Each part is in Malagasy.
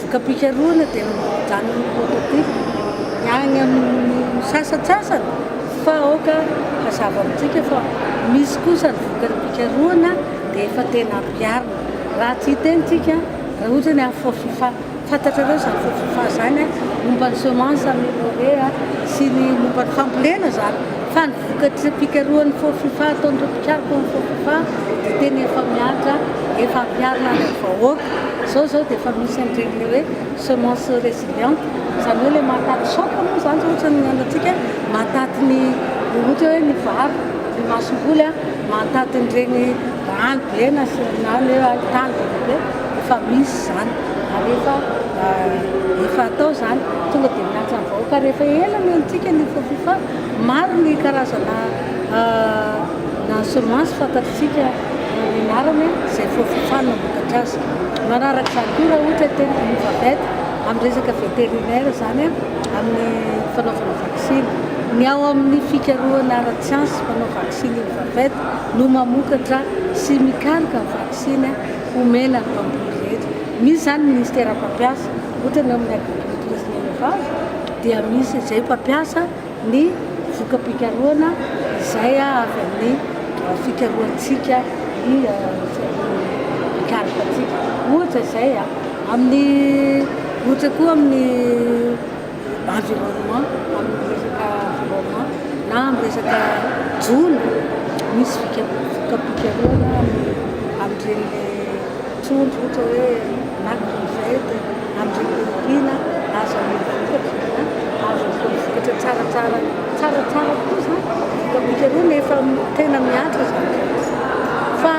Voka-pikarohana dia mijanona amin'ny prototype ny any amin'ny sasantsasany fa aoka hazava amintsika fa misy kosa ny vokany pikarohana dia efa tena ampiharina. Raha tsy hiteny tsika raha ohatra ny Afro Fifa, fantatrareo izany Afro Fifa izany a, momba ny semence ameliorer sy ny momba ny fambolena izany. Fa ny vokatry fikarohan'ny Fofifa ataon'ireo mpikaroka ao amin'ny Fofifa dia tena efa mihatra, efa ampiharina any amin'ny vahoaka. Izao izao dia efa misy an'ireny ilay hoe semence résiliente, izany hoe ilay mahataty choc moa izany izao ohatra ny antsika, mahataty ny ohatra hoe ny vary, ny masomboly a, mahataty an'ireny rano be na ny hoe tany be dia be, efa misy izany. Rehefa efa atao izany, tonga dia miantsa ny vahoaka. Rehefa ela no henontsika ny Fofifa, maro ny karazana semences fantatritsika ny anarany izay Fofifa no mamokatra azy. Manaraka izany koa raha ohatra teny Novabet, amin'ny resaka vétérinaire izany, amin'ny fanaovana vaksiny. Ny ao amin'ny fikarohana ara-tsiansa mpanao vaksiny Novabet no mamokatra sy mikaroka ny vaksiny. Omena ny mpamboly rehetra. Misy izany ny ministera mpampiasa, ohatra ny ao amin'ny agriculture sy ny élevage dia misy izay mpampiasa ny voka-pikarohana izay avy amin'ny fikarohantsika ny karpantsika. Ohatra izay amin'ny, ohatra koa amin'ny. environnement, amin'ny resaka environnement na amin'ny resaka jono, misy fikapikarohana amin'ireny trondro ohatra hoe na crevette, amin'ireny lupine, azo amidy vokatra, azo atao vokatra tsaratsara, tsaratsara tokoa izany, fikapikarohana efa tena mihatra izany, fa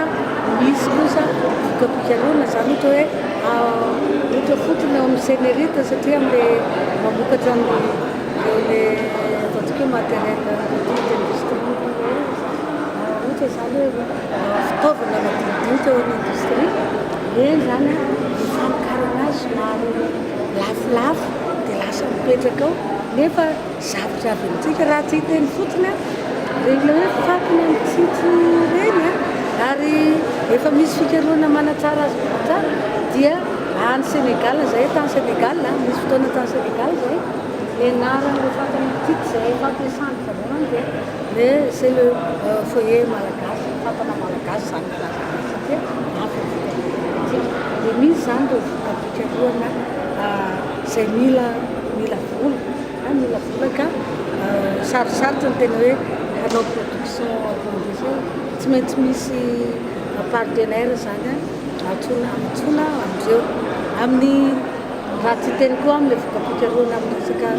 misy kosa fikapikarohana izany ohatra hoe. Ohatra fotsiny ao amin'ny Cnrut satria amin'ilay mamokatra ny ilay ataontsika hoe matériel agriculture d'industrie ohatra izany hoe fitaovana madinidinika ao amin'ny industrie, eny izany ny famokarana azy somary lafolafo dia lasa mipetraka ao nefa Zavatra avy amintsika raha tsy hiteny fotsiny a, ireny ilay hoe faty ny amin'ny tsitso ireny a, ary efa misy fikarohana manatsara azy kokoa tsara dia any Sénégal izay, tany Sénégal a, nisy fotoana tany Sénégal izay nianarana ilay faty amin'ny tsitso izay efa atao sandika avy eo any dia le c'est le foyer malagasy, fatana malagasy izany no ilazana azy satria avy amin'ny fikarohana amintsika dia misy izany ireo vokam-pikarohana izay mila, mila vola. Any mila vola ka sarosarotra ny tena hoe hanao production ambonin'izay satria tsy maintsy misy partenaire zany an, antsoina antsoina amin'izeo amin'ny raha tsy hiteny koa amin'ny voka-pikarohana amin'ny resaka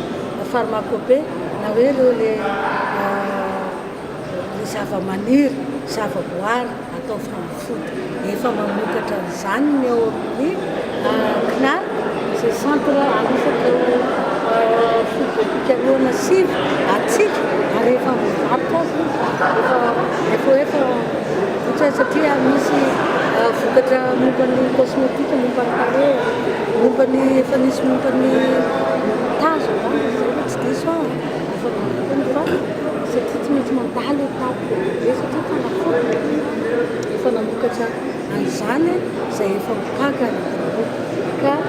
pharmacope na hoe ireo le le zavamaniry, zavaboary. Ataovy fanafody. Efa mamokatra an'izany ny ao amin'ny CNAR izay centre alofan'ireo fototra fikarohana sivy hatsiaka ary efa mivarotra azy izy. Efa efa vokatra azy satria misy vokatra momba ny cosmétique, momba ny tarehy, momba ny efa nisy momba ny tazo angamba izay raha tsy diso aho. Efa vokany fa satria tsy maintsy mandalo eto. Dia satria tanakory ny Tompo efa namokatra an'izany izay efa ho takany ny vahoaka ka.